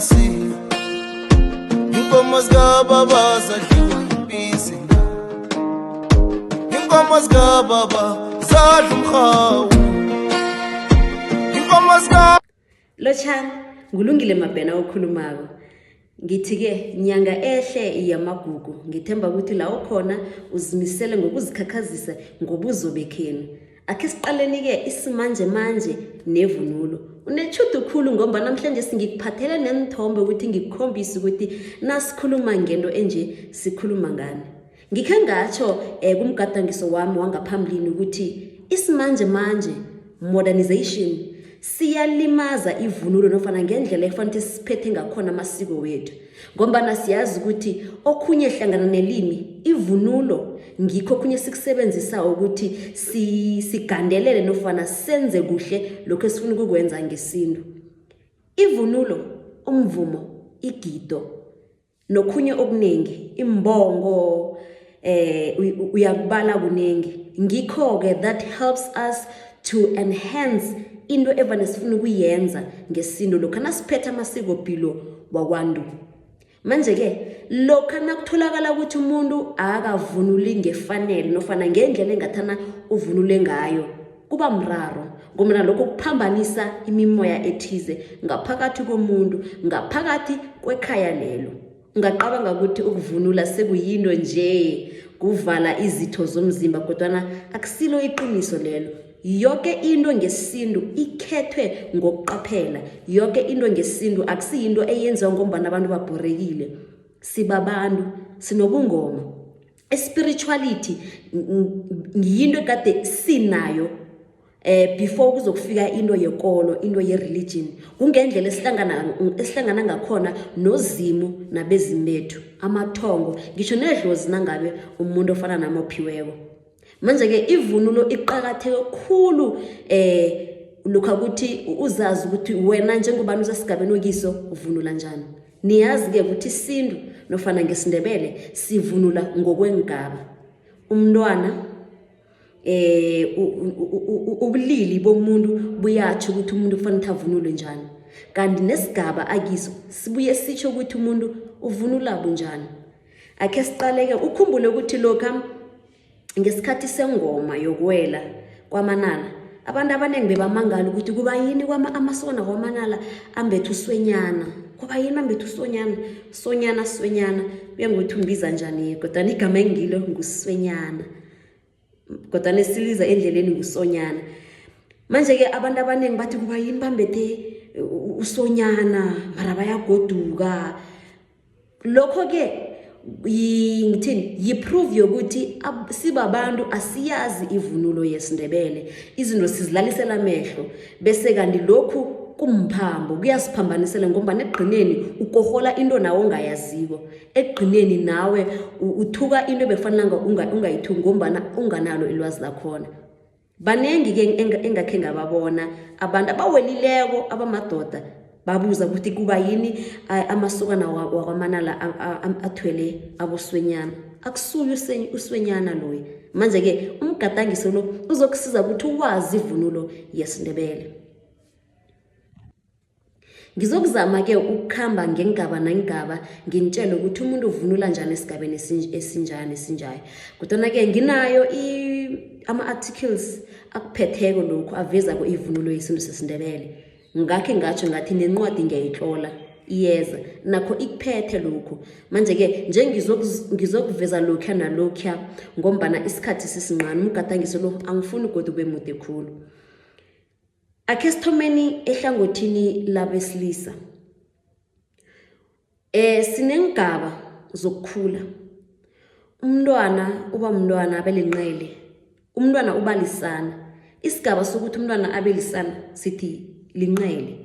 iphasi iinkomo zikababa zadliwa yibisi iinkomo zikababa zadla umrhawu iinkomo zika lotshani ngulungile mabhena okhulumako ngithi-ke nyanga ehle yamagugu ngithemba ukuthi la ukhona uzimisele ngokuzikhakhazisa ngobuzo bekhenu akhe siqaleni-ke isimanjemanje nevunulo unetshudu khulu ngomba namhlanje singikuphathele nenithombe ukuthi ngikukhombise ukuthi nasikhuluma ngento enje sikhuluma ngani ngikhe ngatsho um eh, kumgadangiso wami wangaphambilini ukuthi isimanje manje modernization siyalimaza ivunulo nofana ngendlela ekufanele ukuthi siphethe ngakhona amasiko wethu ngombana siyazi ukuthi okhunye hlangana nelimi ivunulo ngikho okhunye sikusebenzisawo ukuthi sigandelele nofana senze kuhle lokho esifuna ukukwenza ngesintu ivunulo umvumo igido nokhunye okuningi imbongo eh uyakubala kuningi ngikho ke that helps us to enhance into evane sifuna ukuyenza ngesintu lokho nasiphethe amasiko pilo wakwantu manje ke lokho nakutholakala ukuthi umuntu akavunuli ngefanele nofana ngendlela engathana uvunule ngayo kuba mraro ngoba lokho kuphambanisa imimoya ethize ngaphakathi komuntu ngaphakathi kwekhaya lelo ungacabanga ukuthi ukuvunula sekuyinto nje kuvala izitho zomzimba kodwana akusilo iqiniso lelo yoke into ngesintu ikhethwe ngokuqaphela yoke into ngesintu akusiyinto eyenziwa ngombana abantu babhorekile sibabantu sinobungoma Spirituality yinto ekade sinayo eh before kuzokufika into yekolo into ye-religion kungendlela esihlangana esihlangana ngakhona nozimu nabezimu bethu amathongo ngisho nedlozi nangabe umuntu ofana nami ophiweko manje-ke ivunulo iqakatheke khulu eh lokhu ukuthi uzazi ukuthi wena njengobani usesigabeni okiso uvunula njani Niyazi-ke ukuthi isintu nofana ngesiNdebele sivunula ngokweengaba. Umntwana eh ubulili bomuntu buyatjho ukuthi umuntu kufanele ukuthi avunule njani. Kanti nesigaba akiso sibuye sitjho ukuthi umuntu uvunula bunjani. Akhe siqaleke ukhumbule ukuthi lokha ngesikhathi sengoma yokuwela kwamanala abantu abaningi bebamangala ukuthi kuba yini amasona kwamanala ambethe uswenyana kuba yini ambethe usonyana sonyana swenyana kuye ngokuthi umbiza njani-ke kodwana igama engilo nguswenyana kodwana esiliza endleleni ngusonyana manje-ke abantu abaningi bathi kuba yini bambethe usonyana mara bayagoduka lokho-ke ngithini yiproof yokuthi sibabantu asiyazi ivunulo yesindebele izinto sizilalisela amehlo bese kanti lokhu kumphambo kuyasiphambanisela ngombana ekugqineni ukohola into nawe ongayaziko ekugqineni nawe uthuka into ebekufanelanga ungayithuki ngombana unganalo ilwazi lakhona Banengi-ke engakhe ngababona abantu abawelileko abamadoda babuza ukuthi kuba yini amasukana wakwamanala athwele aboswenyana akusuye uswenyana loyo manje-ke umgadangiso lo uzokusiza ukuthi uwazi ivunulo yesindebele Ngizokuzama-ke ukukhamba ngengaba nengaba nginitshele ukuthi umuntu uvunula njani esigabeni esinjani esinjayo kodwana-ke nginayo ama-articles akuphetheko lokhu avezako ivunulo yesintu sesindebele ngakhe ngatsho ngathi nencwadi ngiyayitlola iyeza nakho ikuphethe lokhu manje-ke nje ngizokuveza lokhuya nalokhuya ngombana isikhathi sisinqani umgadangiso lo angifuni godi ube mude khulu Akhe sithomeni ehlangothini labesilisa. Eh sineengaba zokukhula. Umntwana uba mntwana abe lenqele. Umntwana uba lisana. Isigaba sokuthi umntwana abe lisana sithi linqele.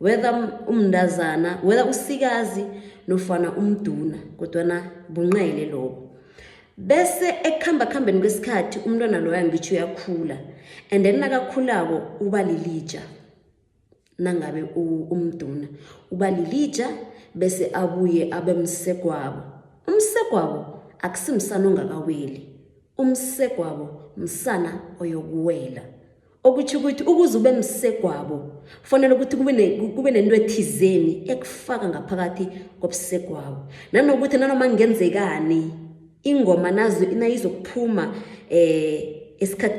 Whether umndazana, whether usikazi nofana umduna kodwana bunqele lobo. bese ekuhambakuhambeni kwesikhathi umntwana loyo angitsho uyakhula and then nakakhulako uba lilija nangabe umduna uba lilija bese abuye abe msegwabo umsegwabo akusimsana ongakaweli umsegwabo msana oyokuwela okutho ukuthi ukuze ube msegwabo kufanele ukuthi kube nento ethizeni ekufaka ngaphakathi kobusegwabo nanokuthi nanoma kungenzekani ingoma nazo nayizokuphuma um eh,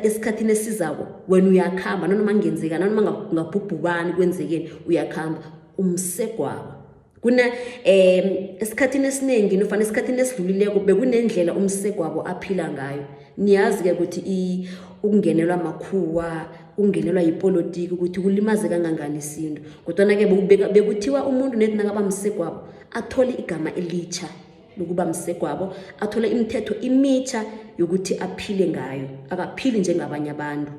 esikhathini esizako wena uyakuhamba nanoma kungenzekani nanoma ngabhubhubani kwenzekeni uyakuhamba umsegwabo kuna um esikhathini esiningi nofana esikhathini esidlulileko bekunendlela umsegwabo aphila ngayo niyazi-ke ukuthi ukungenelwa makhuwa ungenelwa yipolitiki ukuthi kulimaze kangangani isintu kodwana-ke bekuthiwa umuntu nedi nakaba msegwabo athole igama elitsha lokuba msegwabo athole imithetho imitsha yokuthi aphile ngayo akaphili njengabanye abantu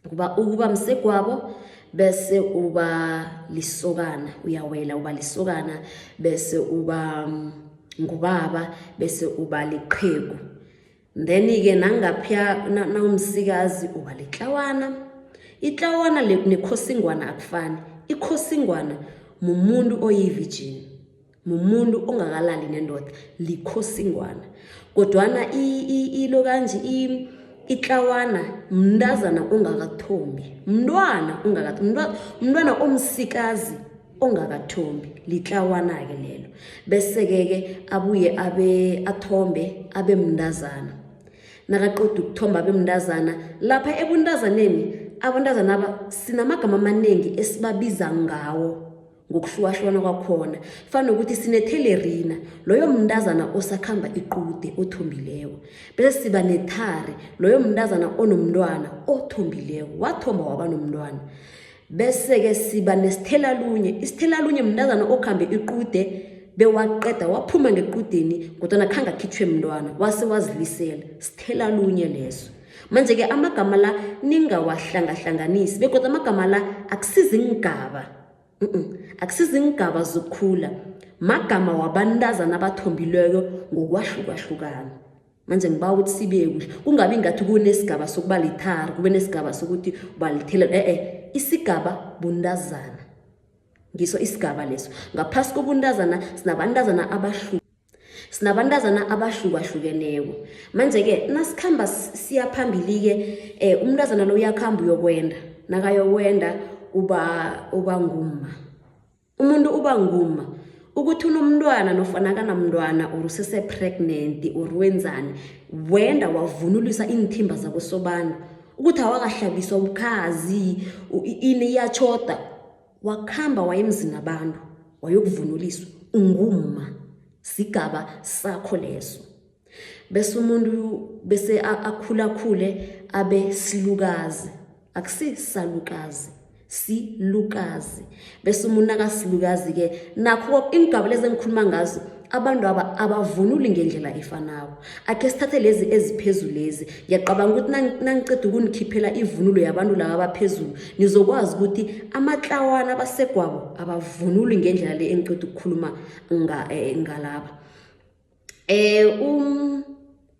ukuba ukuba msegwabo bese uba lisokana uyawela uba lisokana bese uba mm, ngubaba bese uba liqhegu then-ke nangaphya nawumsikazi uba litlawana itlawana nekhosingwana akufani ikhosingwana mumuntu oyivijini mumuntu ongakalali nendoda likhosingwana kodwana ilo kanje itlawana mntazana ongakathombi mntwana mntwana omsikazi ongakathombi litlawana-ke lelo bese-ke-ke abuye abe athombe abe mntazana nakaqoda ukuthomba abe mntazana lapha ebuntazaneni abantazana aba sinamagama amaningi esibabiza ngawo ngokuhlukahlukana kwakhona fana nokuthi sinethelerina loyo mntazana osakhamba iqude othombileko bese siba nethari loyo mntazana onomntwana othombileko wathomba waba nomntwana bese-ke siba nesithelalunye isithelalunye mntazana okhambe iqude bewaqeda waphuma ngequdeni kodwana khange akhitshwe mntwana wase wazilisela sithelalunye leso manje-ke amagama la ningawahlangahlanganisi bekodwa amagama la akusizi ngigaba akusizingigaba zokukhula magama wabantazana abathombileko ngokwahlukahlukana manje ngiba ukuthi sibe kuhle kungabi ngathi kunesigaba sokuba lithara kube nesigaba sokuthi ubalithelelo e-e isigaba buntazana ngiso isigaba leso ngaphasi kobuntazana sinabantazana abahlu sinabantazana abahlukahlukeneko manje-ke nasikhamba siya phambili-ke um umntazana lo uyakuhamba uyokwenda nakayokwenda uba uba ngumma umuntu uba ngumma ukuthi unomntwana nofana akanamntwana or usese-pregnant or wenzani wenda wavunulisa iinthimba zakosobana ukuthi awakahlabiswa ubukhazi ini iyatshoda wakhamba wayemzini abantu wayokuvunuliswa ungumma sigaba sakho leso bese umuntu bese akhulakhule abe silukazi akusisalukazi silukazi bese umuntu akasilukazi-ke nakho ingaba lezi engikhuluma ngazo abantu aba abavunuli ngendlela efanako akhe sithathe lezi eziphezulu lezi ngiyacabanga ukuthi nangiceda ukunikhiphela ivunulo yabantu laba abaphezulu nizokwazi ukuthi amatlawana abasegwabo abavunuli ngendlela le engiceda ukukhuluma eh, ngalaba um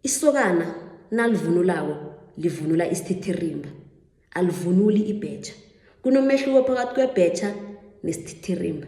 isokana nalivunulako livunula isithitherimba alivunuli ibhetjha kunomehluko phakathi kwebhetjha nesithitherimba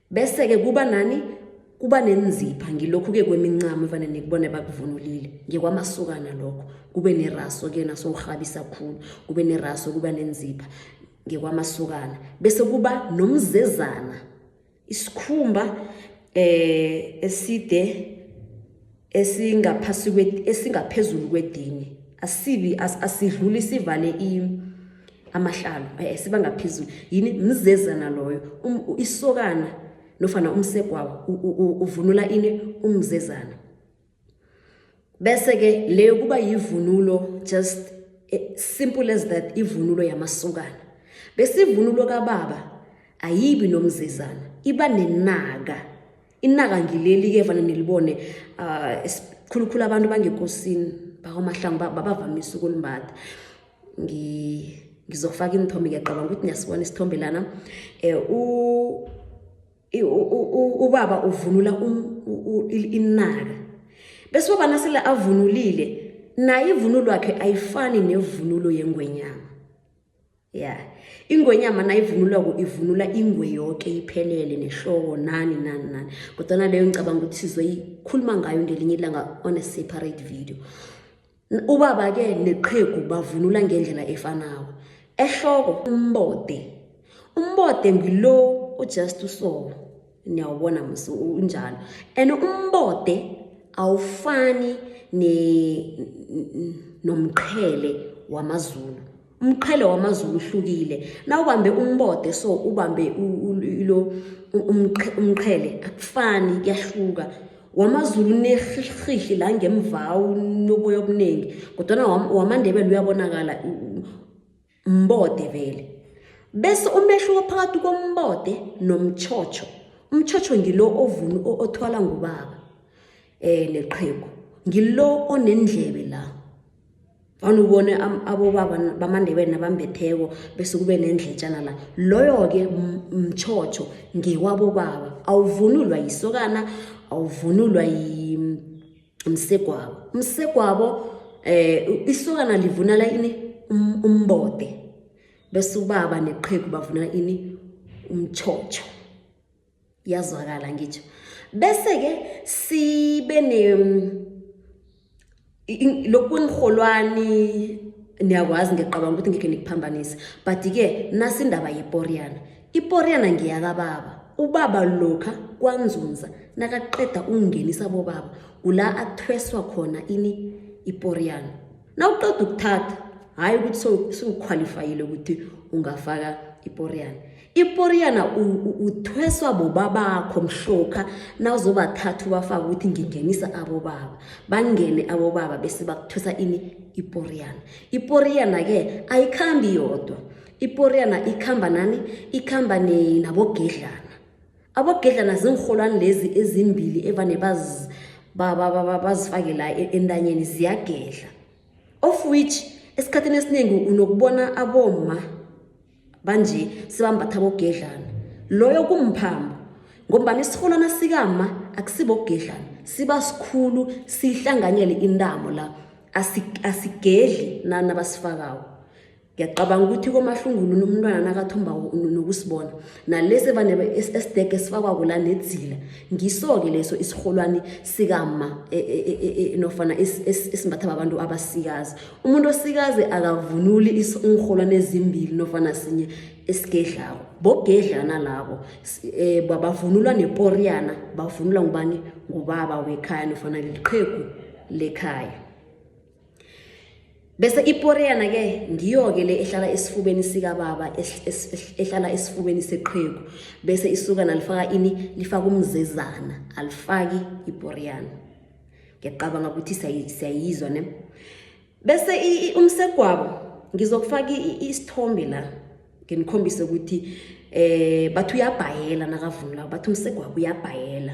bese-ke kuba nani kuba nenzipha ngilokhu-ke kwemincamo evane nikubone bakuvunulile ngekwamasukana lokho kube neraso ke naso urhabisa khulu kube neraso kuba nenzipha ngekwamasukana bese kuba nomzezana isikhumba eh eside esingaphasi kwe- esingaphezulu kwedini asibi as- asidluli sivale i- amahlalo eh, siba ngaphezulu yini mzezana loyo Um- u- isokana nofana umsegwawo u- u- u- uvunula ini umzezana bese-ke leyo kuba yivunulo just eh, simple as that ivunulo yamasokana bese ivunulo kababa ayibi nomzezana iba nenaka inaka ngileli-ke vane nilibone um ah, khulukhulu abantu bangekosini bakwamahlangu babavamise ukulimbatha ngizokufaka iinthombe ngiyacabanga ukuthi niyasibona isithombe lana um ubaba uvunula um, inaka bese ubaba nasele avunulile naye ivunulo yakhe ayifani nevunulo yengwenyana ya ingwenyama nayivunulwako ivunula ingwe yoke iphelele nehloko nani nani nani kodwana leyo ngicabanga ukuthi sizoyikhuluma ngayo ngelinye ilanga on a separate video ubaba-ke neqhegu bavunula ngendlela efanako ehloko umbode umbode ngilo ujust usolo niyawubona musi unjalo and umbode awufani nomqhele wamazulu umqhele wamazulu uhlukile na ubambe umbode so ubambe ilo umqhele akufani kuyahluka wamazulu unerhihli la ngemva unoboya obuningi kodwana wamandebele uyabonakala Mbode vele. Bese umehluko phakathi kombode nomtjhotjho. Umtjhotjho ngilo ovunu othwala ngubaba eh neqhegu. Ngilo onendlebe la. Vana ubone abobaba bamaNdebele nabambetheko bese kube nendletjana la. Loyo-ke mtjhotjho ngewabobaba. Awuvunulwa yisokana, awuvunulwa yi msegwabo msegwabo eh isokana livunala ini um, umbode bese ubaba neqhegu bavunala ini umtshotsho yazwakala ngitsho bese-ke sibe lokunirholwani niyakwazi ngiyacabanga ukuthi ngekhe nikuphambanise but-ke nasindaba yeporiyana Iporyana ngeyakababa. Ubaba lokha kwanzunza nakaqeda ukungenisa bobaba kula athweswa khona ini iporyana. Nawuqeda ukuthatha hhayi ukuthi sewukhwalifayile ukuthi ungafaka iporyana. Iporyana uthweswa bobabakho mhlokha nawuzobathatha ubafaka ukuthi ngingenisa abobaba. Bangene abobaba bese bakuthwesa ini iporyana. Iporyana-ke ayikhambi yodwa. iporiyana ikhamba nani ikhamba nabogedlana abogedlana ziinrholwani lezi ezimbili evane bazifake la e-, entanyeni ziyagedla of which esikhathini esiningi unokubona aboma banje sibambatha bogedlana loyo kumphambo ngombana isirholwana sikama akusibogedlana siba sikhulu sihlanganyele intamo la asigedli nana basifakawo ngiyacabanga ukuthi komahlunguluni umntwana nakathombako nokusibona nalesi vane esidege sifakwako la nedzila ngiso-ke leso isirholwani sikama e, e, e, nofana esimbatha babantu abasikazi umuntu osikazi akavunuli iinrholwani ezimbili nofana sinye esigedlako bogedlana labo um bavunulwa neporiyana bavunulwa ngubani ngubaba wekhaya nofana liqhegu lekhaya Bese iporeyana ke ngiyo ke le ehlala esifubeni sikababa ehlala esifubeni seqhegu bese isuka nalifaka ini lifaka umzezana alifaki iporeyana ngiyacabanga ukuthi siyayizwa ne bese umsegwabo ngizokufaka isithombe la nginikhombise ukuthi eh bathi uyabhayela nakavunulako bathi umsegwabo uyabhayela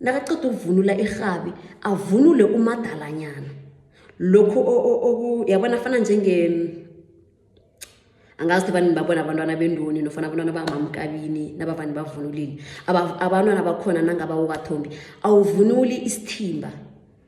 Nakaqeda ukuvunula irhabi, avunule umadalanyana. Lokhu yabona afana njenge angazi ukuthi abantu babona abantwana bendoni nofana abantwana bangamamkabini nabavani bavunulile abantwana bakhona nangabawokathombi awuvunuli isithimba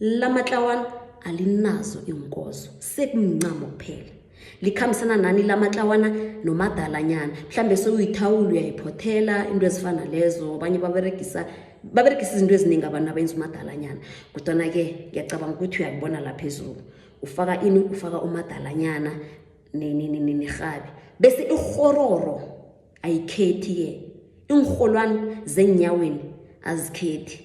lamatlawana alinazo iinkozo sekumncamo kuphela likhambisana nani lamatlawana nomadalanyana mhlawumbe sewuyithawula uyayiphothela into ezifana lezo abanye baberegisa baberegisa izinto eziningi abantu abenza umadalanyana kodwana-ke ngiyacabanga ukuthi uyakubona la phezulu ufaka ini ufaka umadalanyana nirhabi bese irhororo ayikhethi-ke iinrholwani zeenyaweni azikhethi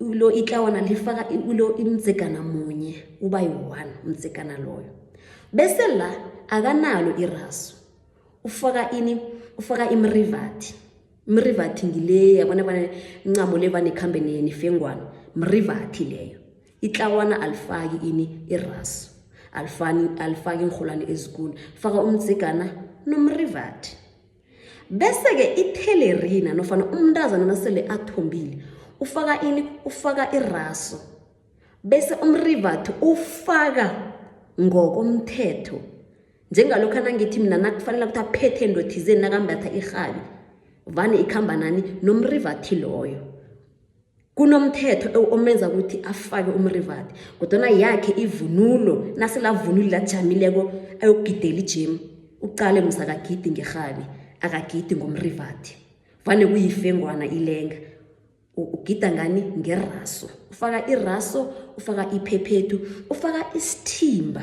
ulo itlawana lifaka ulo imdzegana munye uba yi-one umdzegana loyo bese la akanalo irasu ufaka ini ufaka imrivathi mrivathi ngile yabona bana ncamo le vanekhambe nifengwana mrivathi leyo itlawana alifaki ini irasu alifani alifaki iinrholwane ezikulu faka umdzegana nomrivathi Bese-ke ithelerina nofana umntazana nasele athombile ufaka ini? Ufaka iraso bese umrivathi ufaka ngokomthetho njengalokhu anangithi mina nakufanele ukuthi aphethe into thizeni nakambatha irhabi vane ikhamba nani nomrivathi loyo kunomthetho omenza ukuthi afake umrivati kodwana yakhe ivunulo naselavunuli lajamileko ayokugidela ijemu ucale musa akagidi ngerhabi akagidi ngomrivati vane kuyifengwana ilenga ugida ngani ngeraso ufaka iraso ufaka iphephethu ufaka isithimba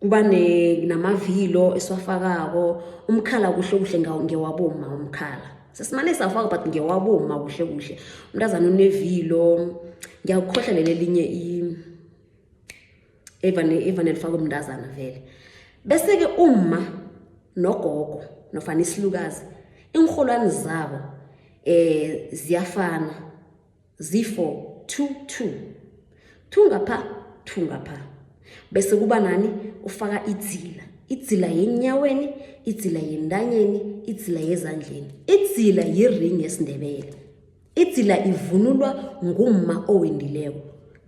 kuba namavilo esiwafakako umkhala kuhle kuhle ngewaboma umkhala sesimane safaka but ngewaboma kuhle kuhle umntazana unevilo ngiyakukhohla leli elinye evane evane lifakwe umntazana vele bese-ke umma nogogo nofana isilukazi iinrholwani zabo um ziyafana zifo two two two ngapha two ngapha bese kuba nani ufaka idzila idzila yenyaweni idzila yentanyeni idzila yezandleni idzila yiring yesindebele idzila ivunulwa ngumma owendileko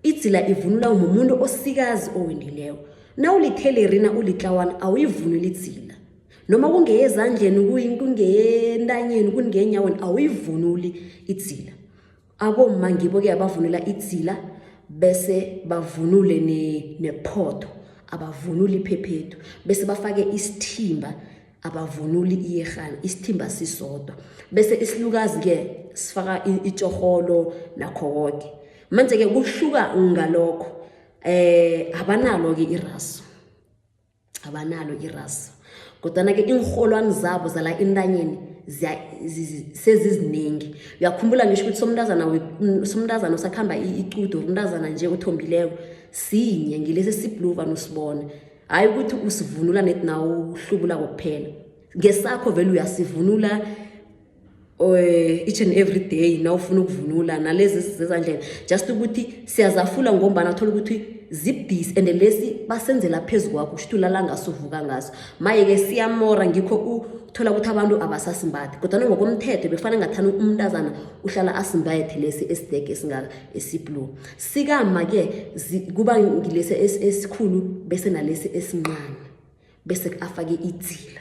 idzila ivunulwa ngumuntu osikazi owendileko nawulithelerina ulitlawana awuyivunuli idzila noma kungeyezandleni kungeyentanyeni kungenyaweni awuyivunuli idzila abomma ngibo-ke abavunula idzila bese bavunule nephotho abavunuli iphephethu bese bafake isithimba abavunuli iyerhana isithimba sisodwa bese isilukazi-ke sifaka itshorholo nakho koke manje-ke kuhluka ngalokho um abanalo-ke iraso abanalo irasu kodwana-ke iinrholwani zabo zala intanyeni seziziningi uyakhumbula ngisho ukuthi somntazana somntazana usakuhamba icudo umntazana nje othombileko sinye ngilesi esibluva nosibona hhayi ukuthi usivunula neti nawo uhlubula kokuphela ngesakho vele uyasivunula Eh, each and every day na ufuna ukuvunula nalezi zezandleni just ukuthi siyazafula ngombana thola ukuthi zibdisi and lesi basenzela phezu kwakho kushuthi ulala ngaso uvuka ngaso maye-ke siyamora ngikho uthola ukuthi abantu abasasimbathi kodwana ngokomthetho bekufanele ngathani umntazana uhlala asimbathe lesi esidege esingaka esiblue sikama-ke kuba ngilesi esikhulu bese nalesi esincane bese afake idzila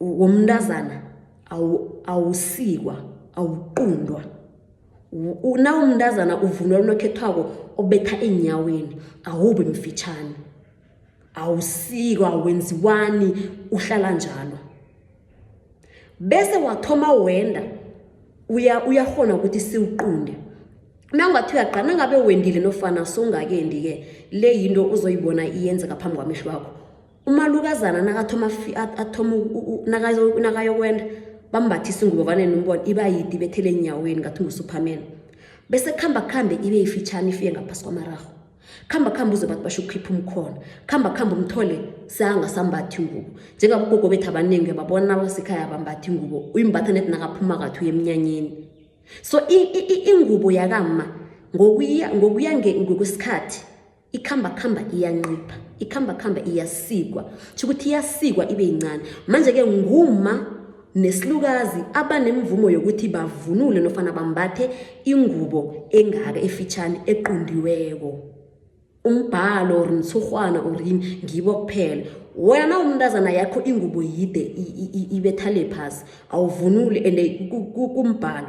womntazana awusikwa awuqundwa nawumntazana uvunula unokhethwako obetha eenyaweni awubi mfitshane awusikwa awenziwani uhlala njalo bese wathoma wenda uyahona ukuthi siwuqunde nangathi uyaqala nangabe wendile nofana songakendi-ke le yinto uzoyibona iyenzeka phambi kwamehlo wakho umalukazana nakathoma athoma nakayokwenda bambathisa ingubo vane nombona iba yidi bethele enyaweni ngathi ngusuperman bese kuhamba kuhambe ibe ifitshane ifike ngaphasi kwamaraho khamba khamba uze bathi basho ukukhipha umkhona khamba khamba umthole sangasambathi ingubo njengabe ugogo bethu abaningi babona abasekhaya abambathi ingubo uyimbatha net nakaphuma kathi uye emnyanyeni so ingubo yakama ngokuya ngokwesikhathi ikhambakhamba iyancipha ikhambakhamba iyasikwa tsho ukuthi iyasikwa ibe yincane manje-ke nguma nesilukazi abanemvumo yokuthi bavunule nofana bambathe ingubo engaka efitshane equndiweko umbhalo or mthurhwana or yini ngibo kuphela wena na umntazana yakho ingubo yide ibethale phasi awuvunuli and kumbhalo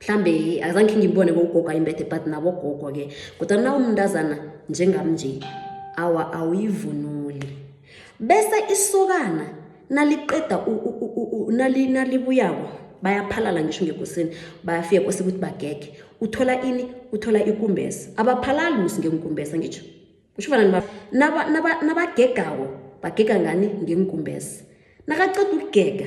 mhlambe azange ngimbone bogogo ayimbethe but nabogogo ke kodwa na umntazana njengam nje awa awuyivunuli bese isokana naliqeda nalibuyako bayaphalala ngisho ngekosini bayafika kose ukuthi bagege uthola ini uthola ikumbesa abaphalali musi ngenkumbesa ngitsho usho fana nabagegako bagega ngani ngenkumbesa nakaceda ukugega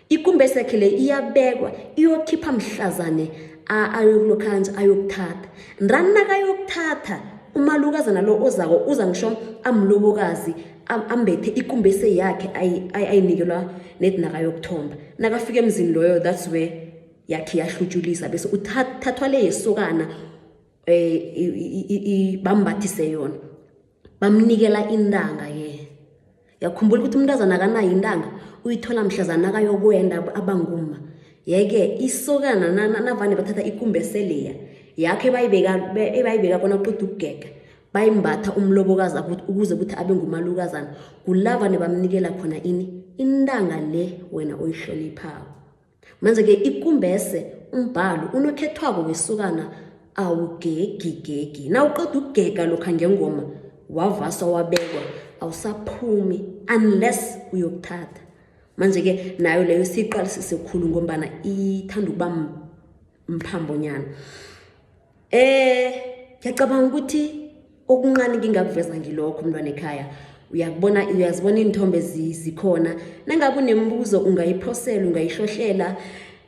ikumbesi yakhe le iyabekwa iyokhipha mhlazane ayokulokhanja ayokuthatha ndani nakayokuthatha umalukazana lo ozako uza ngisho amlobokazi ambethe ikumbese yakhe ayinikelwa nedi nakayokuthomba nakafika emzini loyo that's where yakhe yahlutshulisa bese uthathwa le yesokana um bambathise yona bamnikela intanga-ke yakhumbula ukuthi umntazana akanayo intanga uyithola mhlazana akayokwenda abanguma yeke isokana navane bathatha ikumbi eseleya yakho ebayibeka kona kuqeda ukugega bayimbatha umlobokazi ukuze ukuthi abe ngumalukazana kulava nebamnikela khona ini intanga le wena oyihloniphako Manje-ke ikumbese umbhalo unokhethwako wesukana awugegigegi nawuqeda ukugega lokha ngengoma wavaswa wabekwa awusaphumi unless uyokuthatha manje-ke nayo leyo siyiqalisise khulu ngombana ithanda ukuba mphambonyana eh ngiyacabanga ukuthi okuncane ngingakuveza ngilokho umntwana ekhaya uyakubona uyazibona iinthombe zikhona nangabe unemibuzo ungayiphosela ungayihlohlela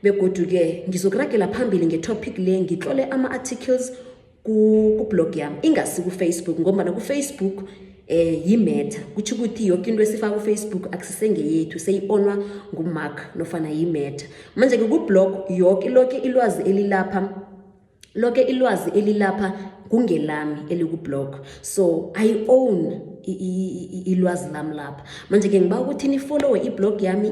begodu-ke ngizokuragela phambili ngetopic le ngitlole ama-articles kublog yami ingasi kufacebook ngombana kufacebook um eh, yimeta kutho ukuthi yoke into esifaka kufacebook akusisengeyethu seyi-onwa ngumark nofana yimeta manje-ke kublog yoke loke ilwazi elilapha loke ilwazi elilapha kungelami elikublog so i own ilwazi lami lapha manje-ke ngiba ukuthi nifollowe iblog yami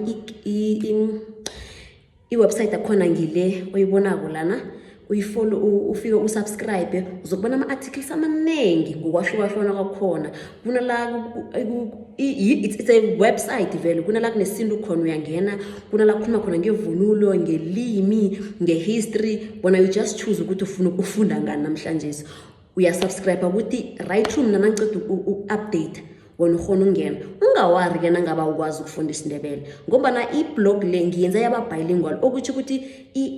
iwebsite akhona ngile oyibonako lana uyifolo ufike usubscribe uzokubona ama-articles amaningi ngokwahlukahlukana kwakhona kunala it's a website vele kunala kunesintu khona uyangena kunala kukhuluma khona ngevunulo ngelimi ngehistory bona you just choose ukuthi ufuna ukufunda ngani namhlanje uyasubscribe ukuthi right room nanangiceda uku-update wona ukhona ukungena ungawari ke nangaba ukwazi ukufunda isindebele ngombana iblog le ngiyenza yababhayilingual okutsho ukuthi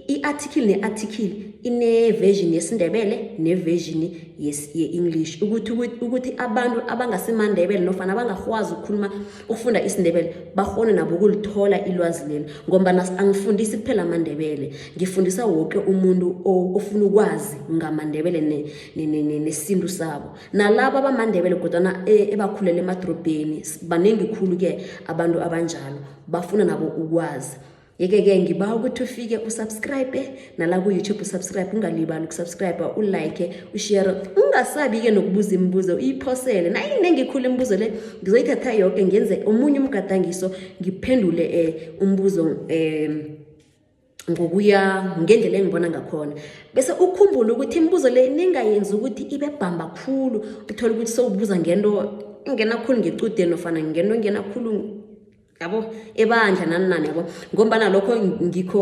i-article ne-article ine-version yesindebele ne-version ye-english ukuthi abantu abangasimandebele nofana abangakwazi ukukhuluma ufunda isindebele bakghone nabo ukulithola ilwazi leli ngombana angifundisi kuphela amandebele ngifundisa woke umuntu ofuna ukwazi ngamandebele nesintu ne, ne, ne, sabo nalabo abamandebele kodwana e, ebakhulele emadorobheni baningi khulu-ke abantu abanjalo bafuna nabo ukwazi yeke-ke ngiba ukuthi ufike usubscribe nala ku-youtube usubscribe ungalibali ukusubscribe ulike ushere ungasabi-ke nokubuza imibuzo uyiphosele nayinengi khulu imibuzo le ngizoyithatha yoke ngenze omunye umgadangiso ngiphendule um umbuzo um ngokuya ngendlela engibona ngakhona bese ukhumbule ukuthi imibuzo le ningayenzi ukuthi ibe bhamba khulu uthole ukuthi sewubuza ngento ingena khulu ngecudeni nofana ngento engena khulu yabo ebandla nani nani yabo ngombana lokho ngikho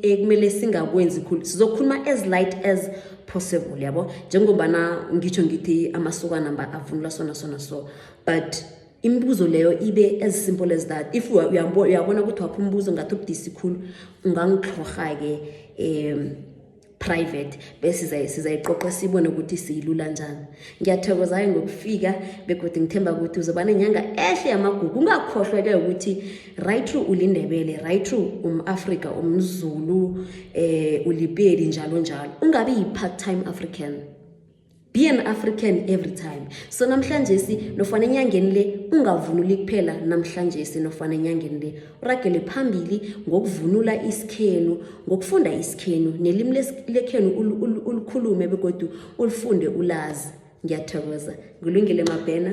ekumele singakwenzi khulu sizokhuluma as light as possible yabo njengombana ngitsho ngithi amasokana mba avunula sona sona so but imibuzo leyo ibe as simple as that if uyabona ukuthi wakho umbuzo ngathi ubudisi khulu ungangitlhorha-ke um private bese sizayiqoqa sibone ukuthi siyilula njani ngiyathokozayo ngokufika begodwa ngithemba ukuthi uzoba nenyanga ehle yamagugu ungakhohlwa-ke ukuthi right true ulindebele right true um-afrika umzulu um ulipeli njalo njalo ungabi yi-part time african be an african every time so namhlanje si nofana enyangeni le ungavunuli kuphela namhlanje si nofana enyangeni le uragele phambili ngokuvunula isikhenu ngokufunda isikhenu nelimi lekhenu ulikhulume begodu ulifunde ulazi ngiyathokoza ngilungile mabhena